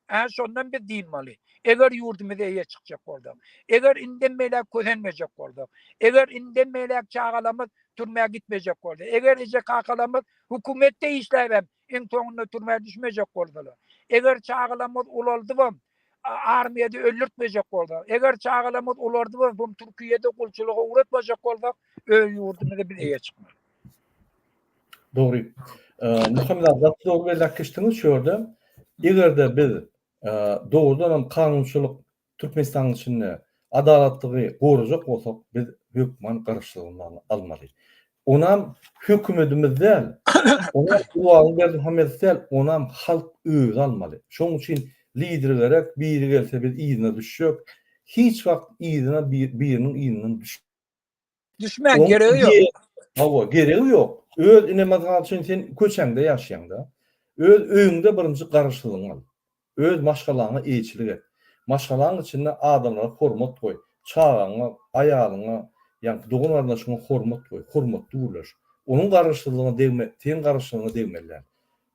B: Hä şondan biz dynmaly. Eger ýurdumyza eýe çykjak bolsak. Eger indem beýläk kösenmejek bolsak. Eger indem beýläk çagalamyz türmä gitmejek bolsa. Eger eje-kakalamyz hökümetde işläbem Iň soňunda türmä düşmejek bolsalar. Eger çagalarymyz ulaldybam, armiýada öldürtmejek bolsalar. Eger çagalarymyz ulardybam, bu Türkiýede gulçulyga ugratmajak bolsak, öz ýurdumyza biz eýe çykmarys.
A: Dogry. Muhammet aga, gaty dogry belläp geçdiňiz şu ýerde. Eger-de biz dogrudanam kanunçylyk Türkmenistanyň içinde adalatlygy gorajak bolsak, biz hökman garaşsyzlanmagyny almaly. Onam hökümetimiz däl, onam Gurbanguly Berdimuhamedow däl, onam halk özi almaly. Şonuň üçin lider gerek, biri gelse biz yzyna düşjek, hiç wagt yzyna biriniň yzyndan düş. Düşmäň
B: geregi ýok. Hawa, geregi
A: ýok. Öz inemazaly üçin sen köçäňde ýaşaýaňda. Öz öýüňde birinji garaşsyzlygyňy al. Öz maşgalaňa eýeçilik et. Maşgalaň içinde adamlara hormat goý. Çagaňa, aýalyňa, ýaňky dogan-garyndaşyňa hormat goý. Hormatly gürleş. Onuň garaşsyzlygyna degme, seň garaşsyzlygyňa degmeli däl.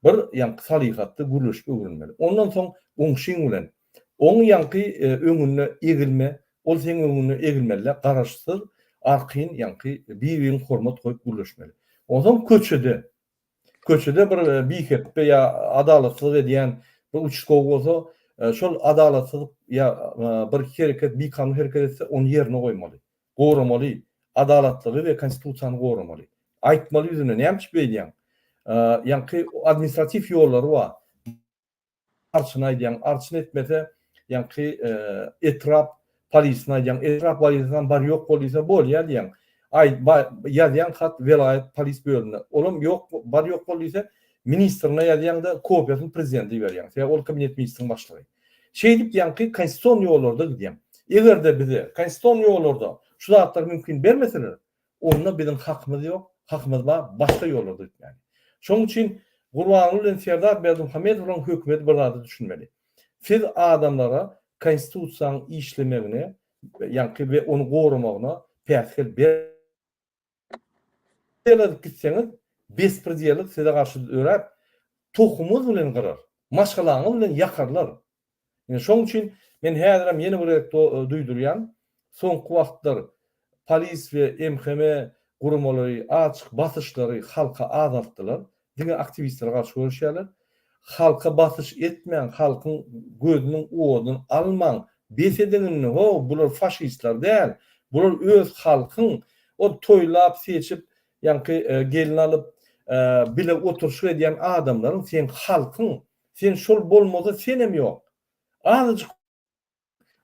A: Bir ýaňky salyhatly gürleşip öwrenmeli. Ondan soň goňşyň bilen, Oň ýaňky öňüne egilme, ol seň öňüňe egilmelidä, garaşsyz arkaýyn ýaňky bir-biriňe hormat goýup gürleşmeli. Onsoň köçede, köçede bir bihepbe ýa adalatsyzlyk edýän bir uçastow bolsa, şol adalatsyzlyk ýa bir hereket bikanun hereket etse, ony ýerine goýmaly, goramaly, adalatlygy we konstitusiýany goramaly. Aýtmaly ýüzüne, näme üçin beýdýäň? Ýaňky administratiw ýollary bar. Arçyny aýdýaň arçyny etmese ýaňky etrap polisyny aýdýaň etrap polisyny bar ýok bol diýse bolýa diýýäň aýt ýazýaň hat welaýat polis bölümine olam ýok bar ýok bol diýse ministrine ýazýaňda kopiýasyny prezidente iberýäň sebäbi ol kabinet ministriň başlygy şeýdip ýaňky konstitusion ýollarda gidýäň egerde bize konstitusion ýollarda şu zatlar mümkin bermeseler Onda biziň hakymyz ýok, hakymyz bar, başga ýollarda ötmäge. Şonuň üçin Gurbanguly bilen Serdar Berdimuhamedowlaryň hökümeti bir zada düşünmeli. Siz adamlara konstitusiýanyň işlemegine, ýaňky we ony goramagyna päsgel bermedik gitseňiz, bespridiellik size garşy döräp, tohumyňyz bilen gyrar, maşgalaňyz bilen ýakarlar, Ine şoň üçin men häzirem ýene bir gezek duýdurýan, soňky wagtlar polis we MHM guramalary açyk basyşlary halka azaltdylar, diňe aktiwistlere garşy göreşýärler. Halka basyş etmäň, halkyň gözüniň oduny almaň, bes ediň indi, ho, bular faşistler däl, bular öz halkyň, ol toýlap, seçip, ýaňky gelin alyp, bile oturyşyk edýän adamlaryň, seň halkyň, Sen şol bolmasa senem ýok. Azajyk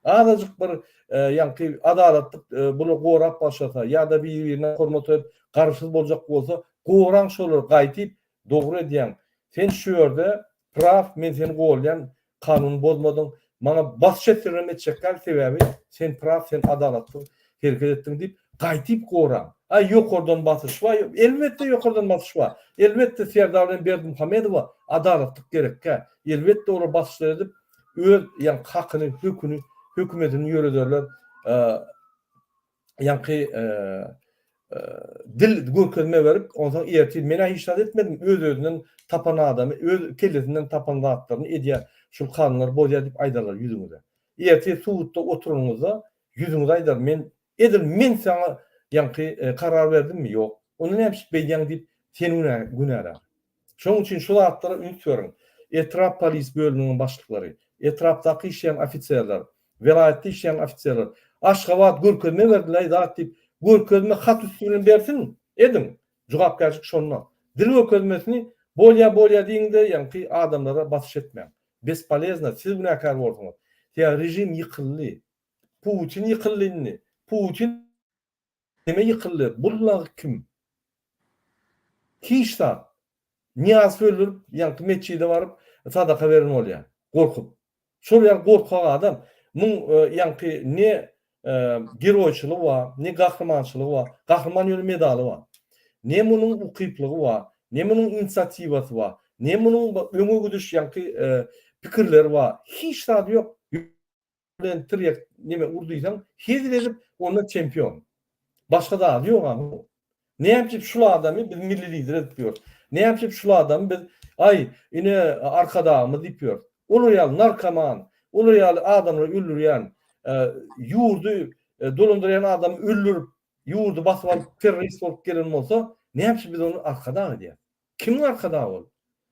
A: azajyk bir ýaňky adalatlyk bular gorap başlasa ýa-da bir-birine hormat edip garşy boljak bolsa goraň şolary gaýtyp dogry edýäň. Sen şu ýerde praw men seni golýan kanun bozmadyň Maňa basş etseňem etjekläň sebäbi sen praw sen adalatly hereket etdiň diýip gaýtyp goraň. Aý ýokardan basyş bar ýok elbetde ýokardan basyş bar. Elbetde Serdar bilen Berdimuhamedowa adalatlyk gerekkä. Elbetde olar basyşlar edip öz ýa hakyny höküni hökümetini ýörederler. ýaňky dil görkezme berip, onsoň ertir men-ä hiç zat etmedim, öz-özünden tapan adamy, öz kellesinden tapan zatlaryny edýär, şul kanunlary bozýar diýip aýdarlar ýüzüňize. Ertir sudda oturanyňyzda ýüzüňize aýdar, men, edil men saňa ýaňky karar berdimmi? Ýok. Onda näme üçin beýdýäň diýip, seni günälär. Şonuň üçin şu zatlara üns beriň, etrap polis bölüminiň başlyklary, etrapdaky işleýän ofiserler, welaýatda işleýän ofiserler, Aşgabat görkezme berdilaý zat diýip, görkezme hat üsti bilen bersin, ediň, jogapkärçilik şonda. Dil görkezmesini bolýa bolýa diýiňde ýaňky adamlara basyş etmäň. Bespolezno, siz günäkär bolduňyz. Sebäbi režim ýykyldy. Putin ýykyldy indi. Putin. Kime ýykyldy? Bul lagy kim? Hiç zat. Nyýaz söldirip, ýaňky metjide baryp, sadaka beren bolýar. Gorkup. Şol ýaly gorkak adam, muň ýaňky ne geroýçylygy bar, ne gahrymançylygy bar, gahryman ýöne medaly bar. Ne munuň ukyplygy bar, ne munuň inisiatiwasy bar, ne munuň öňe gidiş ýaňky pikirleri bar. Hiç zady ýok. bilen tirýek neme ur diýseň, hezil edip, onda çempion. Başga zady ýok a munuň. Näme üçin şul adamy biz milli lider edip ýörüs? Näme üçin şul adamy biz, aý, ine, Arkadagymyz diýip ýörüs? Olar ýaly narkoman, olar ýaly adamlary öldürýän, ýurdy dolandyrýan adamy öldürip, ýurdy basyp alyp, terrorist bolup gelen bolsa, näme üçin biz ony Arkadag edýäs? Kimiň arkadagy ol?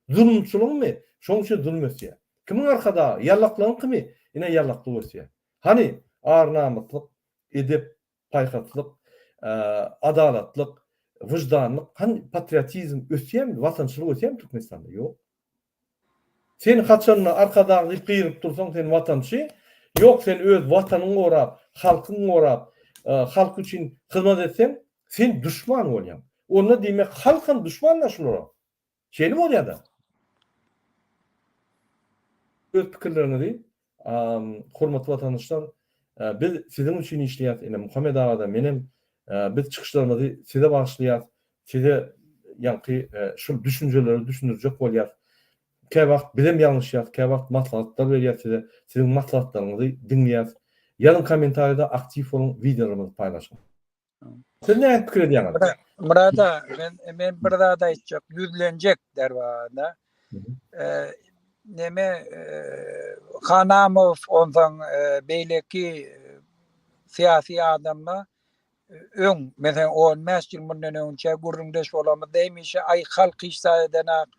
A: Zulumçylygyňmy? Şoň üçin zulum ösýär. Kimiň arkadagy? Ýallaklygyňkymy? Ine ýallaklyk ösýär. Hany, ar-namyslyk, edep, paýhaslyk, adalatlyk, wyždanlyk, hany, patriotizm ösýärmi? Watançylyk ösýärmi Türkmenistanda? Ýok. Sen haçanda arkadag diýip gygyryp dursaň sen watançy ýok sen öz watanyň gorap halkyň gorap halk üçin hyzmat etseň sen duşman bolýaň onda diýmek halkam duşman da şulara şeýle bolýada öz pikirleriňizi Hormatly watandaşlar, biz siziň üçin işleýäs, ine Muhammet aga-da, menem, biz çykyşlarymyzy size bagyşlaýas, size ýaňky şul düşünjeleri düşündirjek bolýas. Käwagt bizem ýalňyşýas, käwagt maslahatlar berýäs size, siziň maslahatlaryňyzy diňleýäs. Ýazyň kommentariýada aktiw boluň, wideolarymyzy paýlaşyň. Siz ne pikir edýäňiz? Murada, men
B: men bir zat aýtjak, ýüzlenjek derwada. Neme Hanamow ondan beýleki syýasy adamla öň, men 15 ýyl mundan öňçe gürrüňdeş bolamyzda hemişe aý halk hiç zat edenak,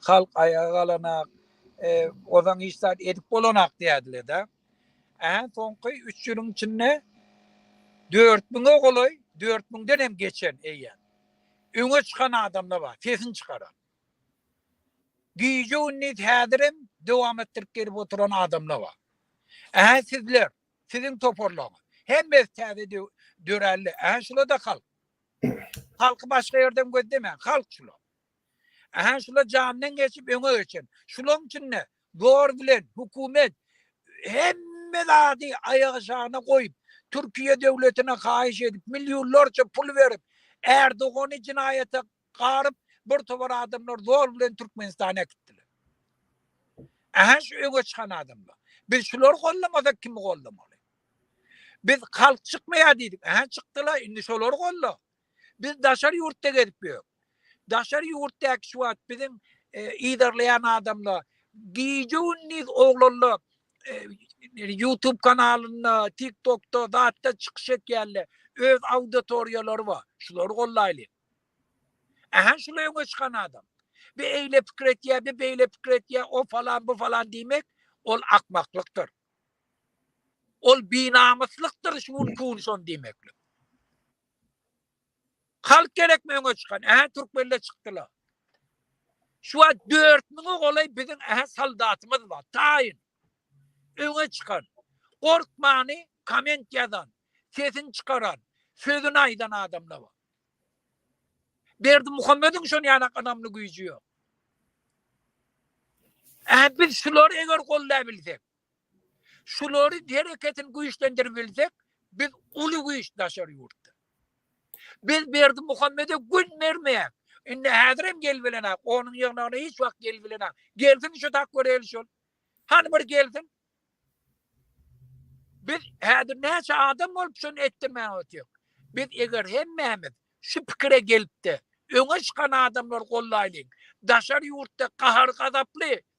B: halk aýaga galanak, ozan hiç zat edip bolanak diýerdiler-de. Ähli soňky üç ýylyň içinde dört müňe golaý, dört müňden hem geçen eýýäm öňe çykan adamlar bar, sesini çykaran. Gije-gündiz häzir hem dowam etdirip gelip oturan adamlar bar. Ähli sizler, siziň toparlaryňyz, hemmesi täze döräldi. Ähli şular-da halk. Halky başga ýerden gözlemäň, halk şular. Ähli şular jandan geçip öňe geçen. Şularyň içinde Zor bilen hökümet hemme zady aýagyşana goýup, Türkiýe döwletine haýyş edip, millionlarça pul berip, Erdogany jinaýata garyp, bir tobar adamlar zor bilen Türkmenistana äkitdiler. Ähä şu öňe çykan adamlar. Biz şulary gollamasak kimi gollamaly? Biz halk çykmaýar diýdik. Ähä çykdylar, indi şolary golla. Biz daşary ýurtda gezip ýörük. Daşary ýurtdaky şu wagt biziň yzarlaýan adamlar gije gündiz oglanlar YouTube kanalynda, TikTokda zatda çykyş etýärler. Öz auditoriýalary bar. Şulary gollaýlyň. Ähä şular öňe çykan adam. Bir eýle pikir etýär, bir beýle pikir etýär, o falan, bu falan diýmek ol akmaklykdyr. Ol binamyslykdyr şu gün kun şony diýmeklik. Halk gerekmi öňe çykan? Ähä türkmenler çykdylar. Şu wagt dört müňe golaý biziň ähä soldatymyz bar. Taýyn. Öňe çykan. Gorkmany komment ýazan, sesini çykaran, sözüni aýdan adamlar bar. Berdimuhamediň şon ýanak ynamly güýji ýok. Ähä biz şulary eger gollaýbilsek. Şulary hereketini güýçlendirip bilsek, biz uly güýç daşary ýurtda. Biz Berdimuhamede gün bermeýäk. Indi häzirem gelbilenok, onuň ýygnagyna hiç wagt gelbilenok. Gelsin şu Takgöreli şol. Hany bir gelsin. Biz häzir näçe adam bolup şuny etdirmän otyrýok. Biz eger hemmämiz şu pikire gelipdi, öňe çykan adamlar gollaýlyň. Daşary ýurtda gahar-gazaply,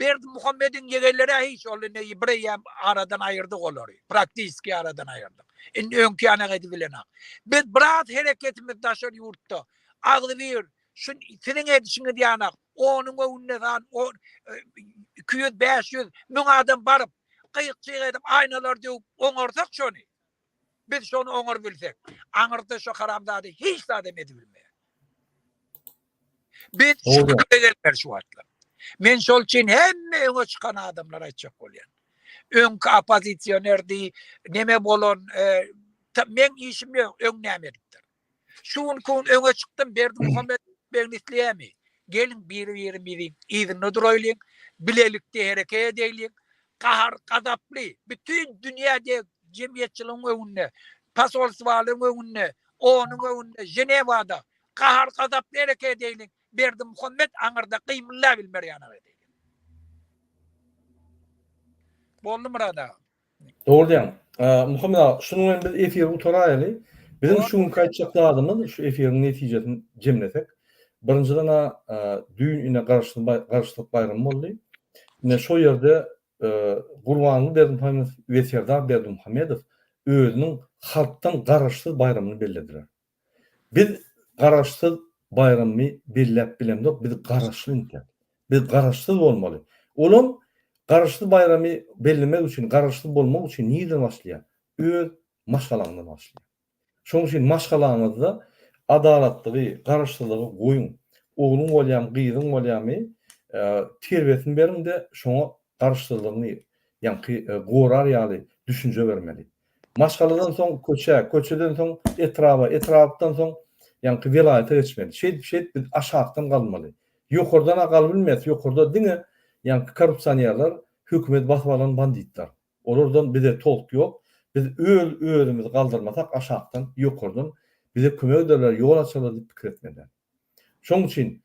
B: Berdimuhamediň ýegenleri-ä hiç, ol indi bireýýäm aradan aýyrdyk olary, praktiski aradan aýyrdyk. Indi öňki ýanagedi bilenak. Biz biraz hereketimiz daşary ýurtda, agzybir, şu siziň edişiňiz ýanak, onuň öwünde san on, iki ýüz, bäş ýüz, müň adam baryp, gyýykjyk edip, aýnalary döwüp oňarsak şony, Biz şony oňar bilsek, aňyrda şu haramzada hiç zat hem edibilmeýär. Biz şübhe şu wagtlar. Men şol üçin hemme öňe çykan adamlara aýtjak bolýan. Öňki oppozisionerdi, neme bolan, e, men işim ýok, öň näme edipdir. Şu gün kun öňe çykdym Berdi Muhammet beg nisliyemi. Gelin biri biri biri izinde duraylyň, bilelikde hereket edeyliň. Kahar, gazaply, bütün dünyade cemiyetçiliğin öňünde, pasolsvalığın öňünde, onun öňünde, Jenevada, kahar, gazaply hereket edeyliň. Berdi Muhammet anırda kıymılla bilmer yana edeyliň. Boldu Murad ağa. Dogry diýýäň.
A: Muhammet aga, şunuň bilen biz efiri gutaraýaly. Biziň şu günki aýtjak zadymyz, şu efiriň netijesini jemlesek, birinjiden-ä düýn ine Garaşsyzlyk baýramy boldy. Ine şo ýerde Gurbanguly Berdimuhamedow we Serdar Berdimuhamedow özüniň halkdan garaşsyz baýramyny bellediler. Biz garaşsyz baýrammy belläp bilemzok, biz garaşly indi. Biz garaşsyz bolmaly. Olam garaşsyz baýramy bellemek üçin, garaşsyz bolmak üçin nireden başlaýar? Öz maşgalaňdan başlaýar. Şonuň üçin maşgalaňyzda adalatlygy, garaşsyzlygy goýuň. Ogluň bolýamy, gyzyň bolýamy, terbiýesini beriň-de, şoňa garaşsyzlygyňy ýaňky gorar ýaly düşünje bermeli. Maşgaladan soň köçä, köçeden soň etraba, etrapdan soň ýaňky welaýata geçmeli. Şeýdip, şeýdip biz aşakdan galmaly. Ýokardan-a galybilmeýäs, ýokarda diňe ýaňky korrupsionerler, hökümeti basyp alan banditler. Olardan bize tolk ýok. Biz öz özümizi galdyrmasak aşakdan, ýokardan bize kömek ederler, ýol açarlar diýip pikir etmeli. Şoň üçin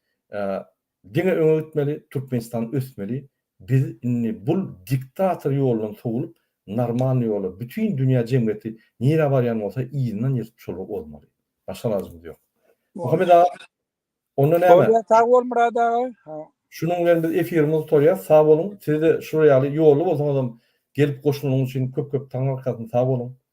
A: Diňe öňe gitmeli Türkmenistan ösmeli biz indi bul diktator ýolundan sowlup normalny ýola bütin dünýä jemgyýeti nirä barýan bolsa yzyndan ýetyp şoly ozmaly başga ilajymyz ýok. Muhammet aga onda näme. Bolýa sag bol Myrat aga.
B: Şunuň bilen
A: biz efirimizi gutarýas sag boluň size-de şular ýaly ýolly bolsaňyzam gelip goşulanyň üçin köp köp taňňarkasyn sag boluň.